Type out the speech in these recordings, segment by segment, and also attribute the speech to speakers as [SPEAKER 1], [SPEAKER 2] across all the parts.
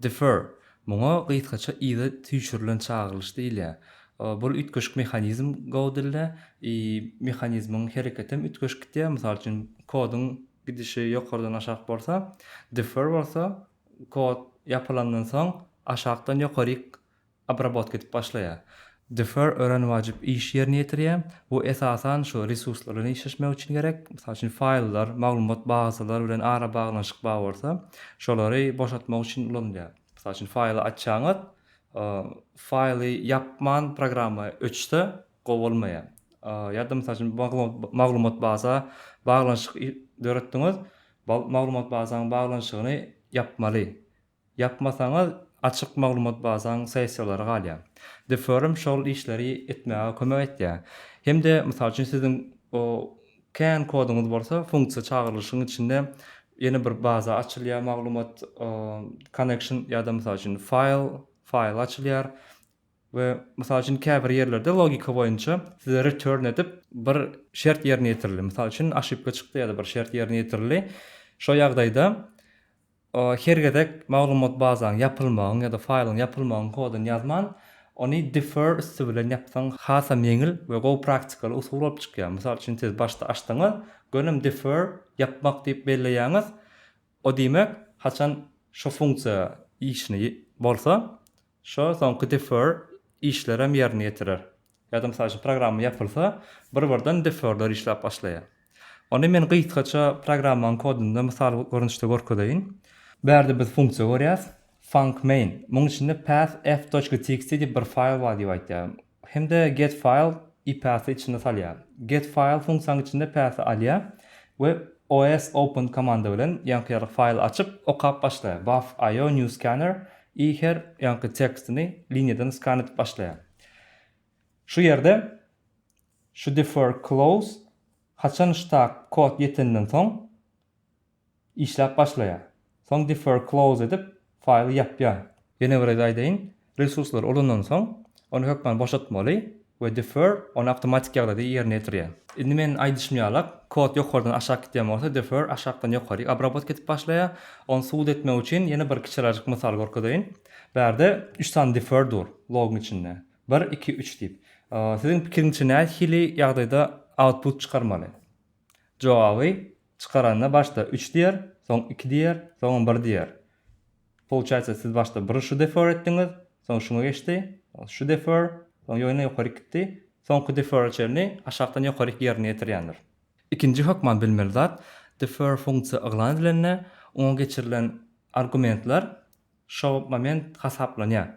[SPEAKER 1] Defer, muňa gysgaça yza süýşürilen çagyrylyş diýilýär. Bul üýtgeşik mehanizm Go dilde, i, mehanizmiň hereketem üýtgeşik gitýär, mysal üçin, koduň gidişi ýokardan aşak bolsa, defer bolsa, kod ýapylandan soň aşakdan ýokaryk obrabotka edip başlaýar. Defer örän wajyp iş ýerine ýetirýär. Bu esasan şu resurslar bilen işleşmek üçin gerek. Mysal üçin faýllar, maglumat bazalar bilen arabaglanyşyk bar bolsa, şolary boşatmak üçin ulanylýar. Mysal üçin faýly açýaňyz, faýly ýapman programma öçse gowy bolmaýar. Ýa-da mysal üçin maglumat baza baglanyşyk döretdiňiz, maglumat bazaň baglanyşygyny ýapmaly. Ýapmasaňyz açyk maglumat bazaň sessiýalary galýar. The Forum şol işleri etmäge kömek etýär. Hem-de mysal üçin siziň kän koduňyz bolsa funksiýa çagyrylyşyň içinde ýene bir baza açylýar maglumat connection ýa-da mysal üçin file file açylýar we mysal üçin käbir ýerlerde logika boýunça size return edip bir şert ýerine ýetirildi. Mysal üçin aşypka çykdy ýa-da bir şert ýerine ýetirildi. Şo ýagdaýda Her gezek maglumat bazaň ýapylmagyň ýa-da faýlyň ýapylmagyň koduny ýazman, ony defer üsti bilen ýapsaň hasam ýeňil we gowy praktikaly usul bolup çykýar. Mysal üçin siz başda açdyňyz, gönem defer, ýapmak diýip belleýäňiz, o diýmek haçan şo funksiýa işini bolsa, Şo soňky defer işlerem ýerine ýetirer. Ýa-da mysal üçin programma ýapylsa, bir-birden deferler işläp başlaýar. Onda men gysgaça programmanyň kodunda mysal görnüşde görkezeýin. Bärde biz funksiýa görýäs, funcmain. Munuň içinde path f.txt diýip bir faýl bar diýip aýdýar. hem-de getfile i path-y içine salýar. Getfile funksiýanyň içinde path-y alýar we osopen komanda bilen ýaňky-ýarag faýly açyp, okap başlaýar. Buff IO new scanner i her ýaňky tekstini liniýadan skan edip başlaýar. Şu ýerde şu defer close haçan ştak kod ýetenden soň Işläp başlaýar. Soň Defer Close edip, faýly ýapýar. Ýene bir gezek aýdaýyn, resurslary ulandan soň, ony hökman boşatmaly we Defer ony awtomatik ýagdaýda ýerine ýetirýär. Indi meniň aýdyşym ýalak, kod ýokardan aşak gidýän bolsa, Defer aşakdan ýokaryk obrabotka edip başlaýar. Ony subut etmek üçin ýene bir kiçirajyk mysal görkezeýin. Bärde üç sany Defer dur, logyň içinde. Bir, iki, üç diýip. Siziň pikiriňizçe nähili ýagdaýda output çykarmaly? Jogaby, Çykaranda başda üç diýer, soň iki diýer, soňam bir diýer. Pouçaýsa siz başda bir şu defer etdiňiz, soň şuňa geçdi, soň şu defer, soň ýöne ýokaryk gitdi, soňky defere çenli aşakdan ýokaryk ýerine ýetirýändir. Ikinji hökman bilmeli zat, defer funksiýa yglan edilende oňa geçirilen argumentler Şo moment hasaplanýar.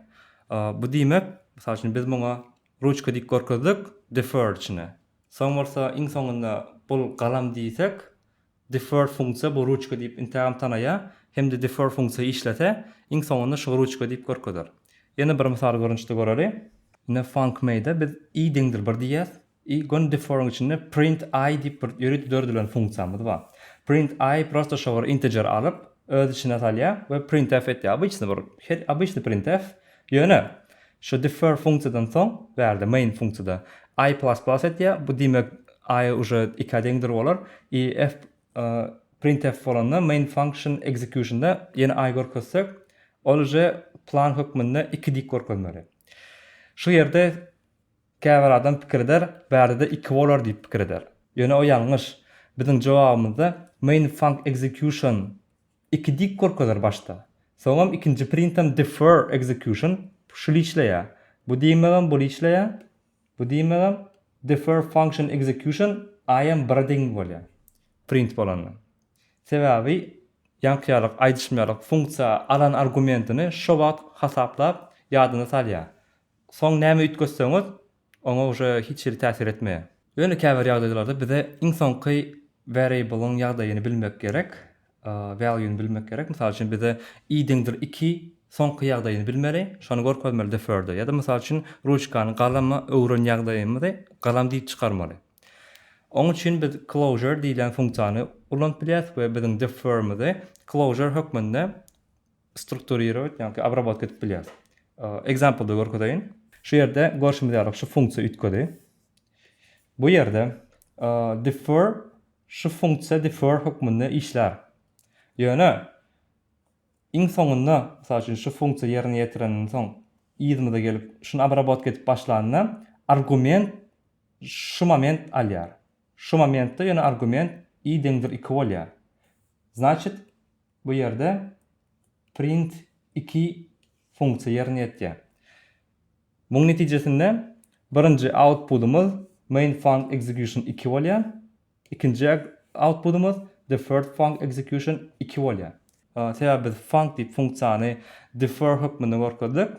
[SPEAKER 1] Bu diýmek, mysal üçin, biz muňa ruçka diýip görkezdik, deferred içine. Soň bolsa iň soňunda bul galam diýsek, deferred funksiýa bu ruçka diýip intägem tanaýar hem-de deferred funksiýa işlese, iň soňunda şu ruçka diýip görkezer. Ýene bir mysal görnüşde göreli. Ine funcmade'e biz i deňdir bir diýýäs. I gün deforyň içinde print i diýip bir ýörite döredilen funksiýamyz bar. Print i prosta şo bir integer alyp, öz içine salýar we printf etýär. Obyçny bir, her obyçny printf. Ýöne, şu defer funksiýadan soň, bärde, main funksiýada, i plus plus etýär, bu diýmek i uje ikä deňdir bolar. I f printf bolanda main function execution-da ýene i görkezsek, ol uje plan hökmünde iki diýip görkezmeli. Şu ýerde. Käbir adam pikir eder, bärde-de iki bolar diýip pikir eder. Ýöne o ýalňyş. Biziň jogabymyzda main func execution iki dik görkezer başda. Soňam ikinji printam defer execution şul işleýär. Bu diýmegem bul işleýär. Bu diýmegem defer function execution aýam bire deň bolýar. Print bolanda. Sebäbi ýaňkyýarlyk, aýdyşmaýarlyk funksiýa alan argumentini şo wagt hasaplap ýadyna salýar. Soň näme üýtgetseňiz, oňa uje hiç hili täsir etmeýär. Ýöne käbir ýagdaýlarda bize iň soňky variable-yň ýagdaýyny bilmek gerek, value-ny bilmek gerek. Mysal üçin bize i deňdir iki soňky ýagdaýyny bilmeli, şony görkezmeli defer'de. Ýa-da mysal üçin ruçkany galama öwren ýagdaýymyzy galam diýip çykarmaly. Oň üçin biz closure diýlen funksiýany ulanyp bilýäris we biziň defer'mizi closure hökmünde strukturirować ýa-da obrabotka edip bilýäris. Example-da görkezeýin. Şu ýerde görşümiz ýaly şu funksiýa üýtgedi. Bu ýerde defer şu funksiýa defer hökmünde işlär. Ýöne iň soňunda, mysal üçin şu funksiýa ýerine ýetirenden soň yzymyza gelip şuny obrabotka edip başlanda argument şu moment alýar. Şu momentde ýöne argument i deňdir iki bolýar. Znaçit Bu ýerde print iki funksiýa ýerine ýetýär. Munuň netijesinde birinji outpudymyz mainfunc execution iki bolýar, ikinji outpudymyz deferfunc execution iki bolýar. Sebäbi biz func diýip funksiýany defer hökmünde görkezdik.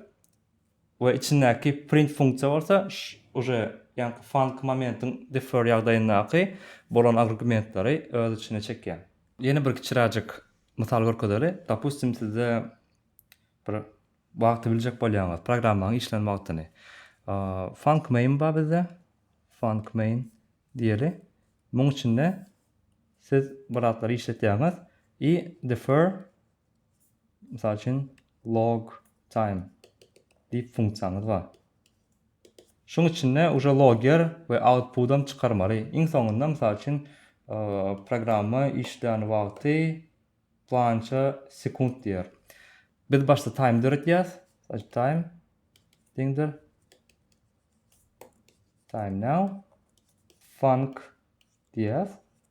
[SPEAKER 1] we içindäki print funksiýa bolsa uje ýaňky func momentiň defer ýagdaýyndaky bolan agrgumentleri öz içine çekýär. Ýene bir kiçiräjik mysal görkezeli. Dopustim sizde bir wagty biljek bolýaňyz, programmaň işlän wagtyny. Func main bar bizde, func main diýeli. Muň içinde siz bir zatlar işletýäňiz i defer Mysal üçin, log time diýip funksiýaňyz bar. Şuň içinde uje logger we output-am çykarmaly. Iň soňunda, mysal üçin, programma işlän wagty plança sekunt diýer. Biz başda time döretýäs. Time deňdir time now func diýýäs.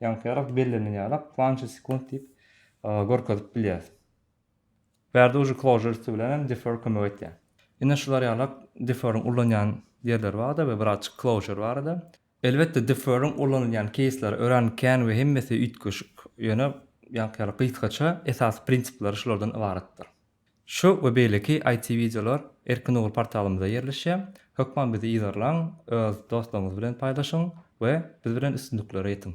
[SPEAKER 1] Ýaňsyýarak bellenen ýarak planche sekunt diýip görkezip bilýäs. Bärde uje closure üsti bilen hem defer kömek etýär. Ine şular ýalak deferiň ulanýan ýerleri barda we birazjyk closure barada. Elbetde deferiň ulanylýan keýsleri örän kän we hemmesi üýtgeşik, ýöne ýaňky ýaly gysgaça esasy prinsipleri şulardan ybaratdyr. Şu we beýleki IT wideolar Erkin Ugur portalymyzda ýerleşýär. Hökman bizi yzarlaň, öz dostlaryňyz bilen paýlaşyň we biz bilen üstünliklere ýetiň!